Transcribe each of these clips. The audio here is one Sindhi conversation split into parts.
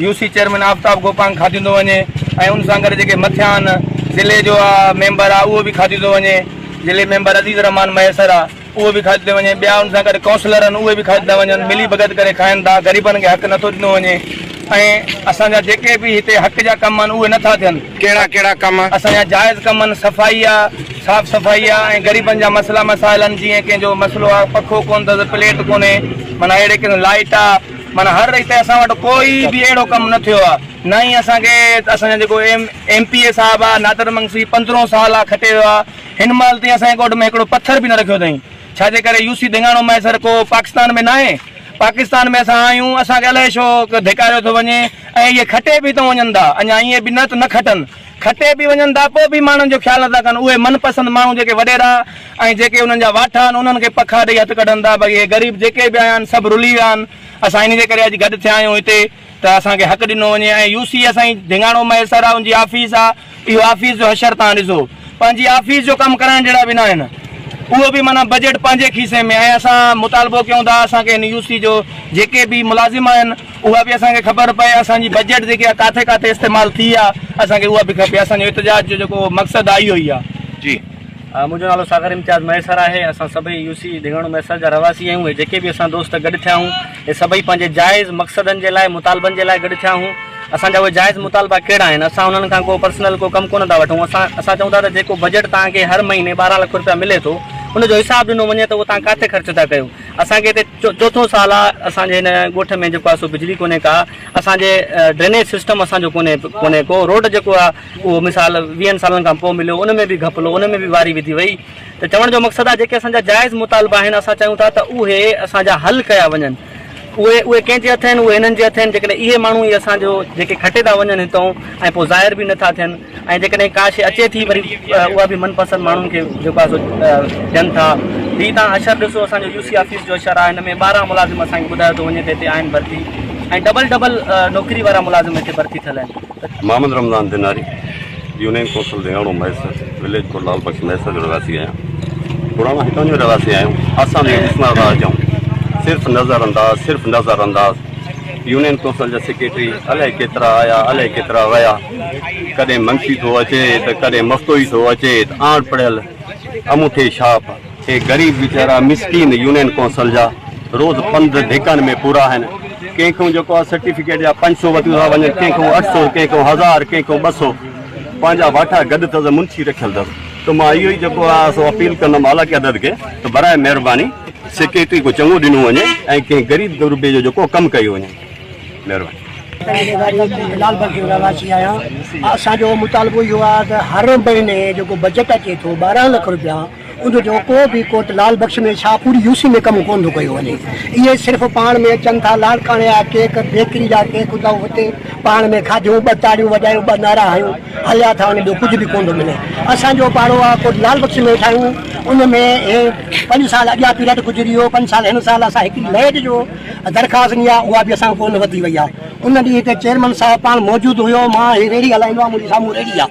U C chairman Aftab Gopang کاتيون ٿو وڃي ۽ ان سان گڏ جيڪي مٿيان ضلعي جو ميمبر آهي اهو به کاتيون ٿو وڃي ضلعي ميمبر عزيز الرحمان مهيسر آهي اهو به کاتيون ٿو وڃي ٻيا ان سان گڏ ڪائونسلر آهن اهي به کاتيون ٿا وڃن ملي ڀڳت ڪري کائن ٿا غريبن کي حق نٿو ڏنو وڃي ۽ اسان جا جيڪي به هتي حق جا ڪم آهن اهي نٿا ٿين ڪهڙا ڪهڙا ڪم اسان جا جائز ڪم آهن صفائي آهي صاف صفائي آهي ۽ غريبن جا مسئلا مسائل آهن جيئن ڪنهن جو مسئلو آهي پکو ڪونه اٿس پليٽ ڪونهي معنيٰ اهڙي قسم لائٽ آهي معنيٰ هر ريت اسان وٽ ڪوئي به اهڙو ڪم نه ٿيو آ نه ئي اسان کي اسان جا جيڪو ايم ايم پي اي صاحب آ نادر منگسي پندرهون سال آ کٽي ويو آ هن مهل تائين اسان جي ڳوٺ ۾ هڪڙو پٿر به نه رکيو اٿائين ڇا جي ڪري يوسي ڌيڱاڻو مهيسر ڪو پاڪستان ۾ ناهي پاڪستان ۾ اسان آهيون اسان کي الائي ڇو ڌڪاريو ٿو وڃي ۽ اهي کٽي به اتان وڃن ٿا اڃا ائين به نه ته نه کٽن کٽي به وڃن ٿا پوء به ماڻهن جو خيال نه ٿا ڪن اهي من پسند ماڻهو جيڪي وڏيرا ۽ جيڪي انهن جا واٺا آهن، انهن کي پکا ڏيئي هٿ ڪڍن ٿا. باقي هي غريب جيڪي به آيا آهن، سڀ رلي ويا آهن. اسان ان جي ڪري اڄ گڏ ٿيا آهيون هتي ته اسان کي حق ڏنو وڃي ۽ يو سي اسان جي ڍنگاڻو مهيسر آهي، ان جي آفيس آهي. اهو آفيس جو حشر توهان ڏسو. پنهنجي آفيس جو ڪم ڪرائڻ جهڙا به نه آهن. اهو به معنيٰ بجيٽ پنهنجي کيسي ۾ ۽ اسان مطالبو ڪيون ٿا اسان کي هن يو سي جو جيڪي به ملازم آهن، اها به اسان کي خبر پئي. اسان جي بجيٽ جيڪي آهي ڪاٿي ڪاٿي استعمال ٿي آهي، اسان کي اها به کپي. اسان جو احتجاج جو جيڪو مقصد آهي اهو ئي آهي. جي. منهنجو نالو ساغر امتياز مهيسر آهي، اسان سڀئي يو سي ڍڳاڻو مهيسر جا رهواسي آهيون ۽ جيڪي به اسان دوست گڏ ٿيا آهيون اهي سڀئي پنهنجي جائز مقصدن جي لاء مطالبن جي لاء گڏ ٿيا آهيون، اسان جا اهي جائز مطالبا ڪهڙا آهن، اسان انهن کان ڪو پرسنل ڪو ڪم ڪونه ٿا وٺون، اسان اسان چئون ٿا ته جيڪو بجيٽ توهان کي هر مهيني ٻارهن لک روپيا ملي ٿو ان جو حساب ڏنو وڃي ته اهو توهان ڪاٿي خرچ ٿا ڪيو، اسان کي هتي چوٿون سال آهي اسان جي هن ڳوٺ ۾ جيڪو آهي سو بجلي ڪونهي ڪا اسان جي ڊرينيج سسٽم اسان جو ڪونهي ڪونهي ڪو روڊ جيڪو آهي. اهو مثال ويهن سالن کان پوء مليو، ان ۾ به گهپلو، ان ۾ به واري وڌي وئي ته چوڻ جو مقصد آهي جيڪي اسان جا جائز مطالبا آهن اسان چاهيون ٿا ته اهي اسان جا حل ڪيا وڃن اهي اهي ڪنهن جي هٿ آهن اهي هنن جي هٿ آهن جيڪڏهن اهي ماڻهو ئي اسان جو جيڪي کٽي ٿا وڃن هتئون ۽ پوء ظاهر به نٿا ٿين ۽ جيڪڏهن ڪا شيء اچي ٿي وري اها به من پسند ماڻهن کي جيڪو آهي سو ڏين ٿا هي تان اشر ڏسو اسان جو يو سي آفيس جو اشر آهي هن ۾ ٻارهن ملازم اسان کي ٻڌايو ٿو وڃي ته هتي آهن ڀرتي ۽ ڊبل ڊبل نوڪري وارا ملازم هتي ڀرتي ٿيل آهن. Muhammad Ramzan Dhanari, union council Dhingano Mahesar, village Kot Lal Bakhsh Mahesar جو رهواسي آهيان. پراڻو هتان جو رهواسي آهيان. اسان ۾ ڏسڻ لاء اچون. صرف نظر انداز، صرف نظر انداز. يونين ڪونسل جا سيڪريٽري الائي ڪيترا آيا، الائي ڪيترا ويا. ڪڏهن منشي ٿو اچي ته ڪڏهن مفتوئي ٿو اچي ته اڻ پڙهيل اموٺي ڇاپ. اهي غريب ويچارا مسڪين يونين ڪونسل جا روز پنڌ ڌڪن ۾ پورا آهن. ڪنهن کان جيڪو آهي سرٽيفڪيٽ جا پنج سو وتيون ٿا وڃن، ڪنهن کان اٺ سو، ڪنهن کان هزار، ڪنهن کان ٻه سو. پنهنجا واٺا گڏ اٿس، منشي رکيل اٿس. ته مان اهو ئي جيڪو آهي سو اپيل ڪندم اعليٰ قيادت کي ته براء مهرباني سيڪريٽري ڪو چڱو ڏنو وڃي ۽ ڪنهن غريب غربي جو جيڪو ڪم ڪيو وڃي. مهرباني. غريب لال بگ جو رهواسي آهيان. اسان جو مطالبو اهو آهي ته هر مهيني جيڪو بجيٽ اچي ٿو ٻارهن لک رپيا. ان جو ڪو به ڪوٽ لال بخش ۾ ڇا پوري يو سي ۾ ڪم ڪونه ٿو ڪيو وڃي. اهي صرف پاڻ ۾ اچن ٿا، لاڙڪاڻي جا ڪيڪ، بيڪري جا ڪيڪ اٿئون اتي پاڻ ۾ کاڌيون، ٻه تاڙيون وڄايون، ٻه نعرا هنيون، هليا ٿا وڃن ٻيو ڪجهه به ڪونه ٿو ملي. اسان جو پاڙو آ ڪوٽ لال بخش ۾ ويٺا آهيون ان ۾ اهي پنج سال اڳيان پيريڊ گذري ويو پنج سال هن سال اسان هڪڙي لائيٽ جو درخواست ڏني آ اها به اسان کان ڪونه وڌي وئي آ ان ڏينهن هتي چيئرمن صاحب پاڻ موجود هيو مان هي ريڙهي هلائيندو آ منهنجي سامهون ريڙهي آ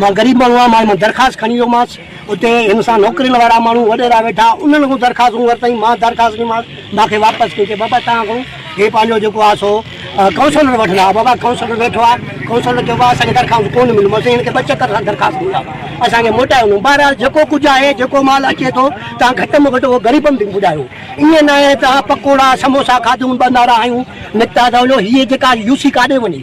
مان غريب ماڻهو آ مان درخواست کڻي ويومانس اتي هن سان نوڪرين وارا ماڻهو وڏيرا ويٺا انهن کان درخواستون ورتائين مان درخواست ڏنيمانس مان کي واپس ڪيو چي بابا تان کان هي پنهنجو جيڪو آ سو ڪائونسلر وٺندا بابا ڪائونسلر ويٺو آ ڪائونسلر چيو بابا اسان کي درخواست ڪون مليون مون چيو هن کي ٻه چڪر سان درخواست ڏيندا اسان کي موٽائي وڃو بهرحال جيڪو ڪجهه آهي جيڪو مال اچي ٿو تان گهٽ م گهٽ اهو غريبن تي پڄايو ائين ناهي ته پڪوڙا سموسا کاڌون ٻه نعرا هنيون نڪتا ته وڃو هيء جيڪا يوسي ڪاڏي وڃي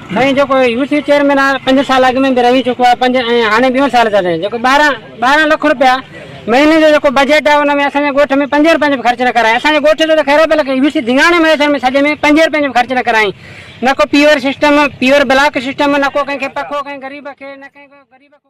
سائين جيڪو يوٿ چيئرمين آ پنج سال اڳ ۾ به رهي چڪو آ پنج ۽ هاڻي ٻيون سال ٿا رهين جيڪو ٻارهن ٻارهن لک روپيا مهيني جو جيڪو بجيٽ آ ان ۾ اسان جي ڳوٺ ۾ پنجين روپين جو به خرچ نه ڪرايائين اسان جي ڳوٺ جو ته خير پر لکي يوٿ ڌينگاڻي مهيسر ۾ سڄي ۾ پنجين روپين جو به خرچ نه ڪرايائين نه ڪو paver system paver block system نه ڪو ڪنهن کي پکو ڪنهن غريب کي نه ڪنهن غريب کي